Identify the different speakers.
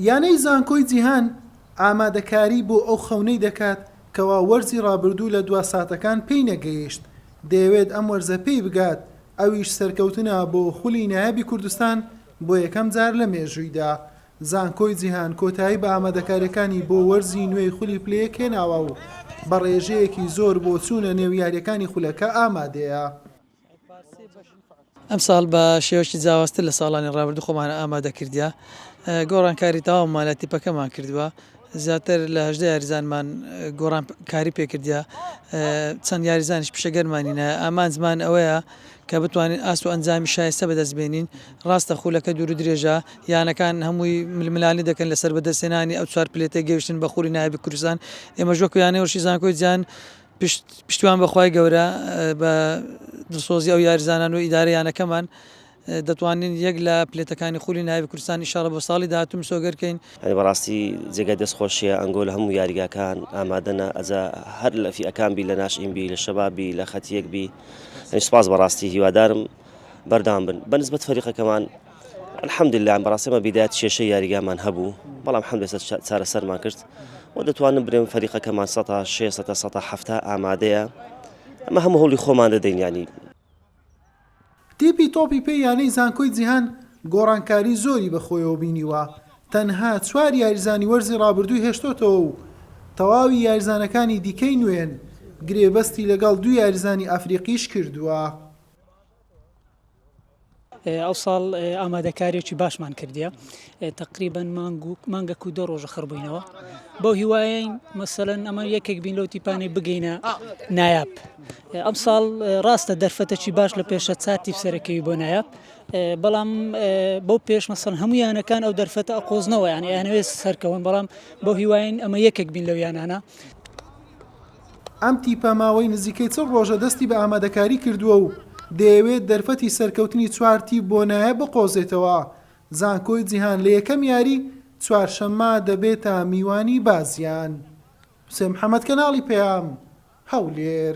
Speaker 1: یانەی زانکۆی جیهان ئامادەکاری بۆ ئەو خەونەی دەکات کەوا وەرزی رابردوو لە دوا ساتەکان پێی نەگەیشت، دەیەوێت ئەم وەرزە پێی بگات، ئەویش سەرکەوتنە بۆ خولی نایابی کوردستان بۆ یەکەم جار لە مێژوویدا، زانکۆی جیهان کۆتایی بە ئامادەکارییەکانی بۆ وەرزی نوێی خولی پلە یەک هێناوە و بە رێژەیەکی زۆر بۆ چوونە نێو یارییەکانی خولەکە ئامادەیە.
Speaker 2: ئەمساڵ بە شێوەیەکی جیاوازتر لە ساڵانی ڕابردوو خۆمان ئامادە کردیە گۆڕانکاری تەواومان لە تیپەکەمان کردووە زیاتر لە هەژدە یاریزانمان گۆڕانکاری پێکردە چەند یاریزانش پیشەگەرمانینە ئامانجمان ئەوەیە کە بتوانین ئاس و ئەنجامی شایستە بەدەست بێنین ڕاستە خولەکە دوور درێژە یانەکان هەمووی ململانی دەکەن لەسەر بەدەستێنانی ئەو چوار پلێتە گەیشتن بە خولی نایبی کوردستان ئێمە ژۆکیانەوەشی زانکۆی جان پشت پشتیوان بە خوای گەورە بە دڵسۆزی ئەو یاریزانان و ئیدارەی یانەکەمان دەتوانین یەک لە پلێتەکانی خولی نایابی کوردستان ان شاءاللە بۆ ساڵی داهاتوو مسۆگەر کەین. یانی بەڕاستی
Speaker 3: جێگای دەست خۆشیە ئەنگۆ لە هەموو یاریگاکان ئامادەنە ئەجا هەر لە فیئەکان بی لە ناشئین بی لە شەباب بی لە خەتیەک بی یانی سوپاس بەڕاستی هیوادارم بەردەوام بن بەنسبەت فەریقەکەمان الحمدللە بەڕاستی ئێمە بیدایەت کێشەی یاریگامان هەبوو بەڵام حەمد لەسەر چا- چارەسەرمان کرد و دەتوانم برێم فەریقەکەمان سەتا شێ سەتا سەتا حەفتا ئامادەیە ئەمە هەموو هەوڵی خۆمان دەدەین یانی تیپی
Speaker 1: تۆپی پێی یانەی زانکۆی جیهان گۆڕانکاری زۆری بەخۆیەوە بینیوە، تەنها چوار یاریزانی وەرزی رابردووی هێشتۆتەوە و تەواوی یاریزانەکانی دیکەی نوێن، گرێبەستی لەگەڵ دوو یاریزانی ئەفریقیش کردووە.
Speaker 4: ئەوساڵ ئامادەکاریەکی باشمان کردیە تقریبن مانگ و مانگەک و دە ڕۆژە خڕبووینەوە بەو هیواین مەسەن ئەمە یەکێک بین لەوتی پانێ بگەینە نایاب ئەم ساڵ ڕاستە دەرفەتەکی باش لە پێشە چاتی سەرەکەوی بۆ نایاب بەڵام بەو پێش مەسەن هەموو یانەکان ئەو دەرفەتە ئەقۆزنەوە یان یانەوێت سەرکەون بەڵام بۆ هیواین ئەمە یەکێک بین لەو یانانە
Speaker 1: ئەم تیپە ماوەی نزیکەی چل رۆژە دەستی بە ئامادەکاری کردووە و دەیەوێت دەرفەتی سەرکەوتنی چوار تیپ بۆ نایە بقۆزێتەوە، زانکۆی جیهان لە یەکەم یاری، چوارشەممە، دەبێتە میوانی بازیان. حوسێن محەمەد، کەناڵی پەیام، هەولێر.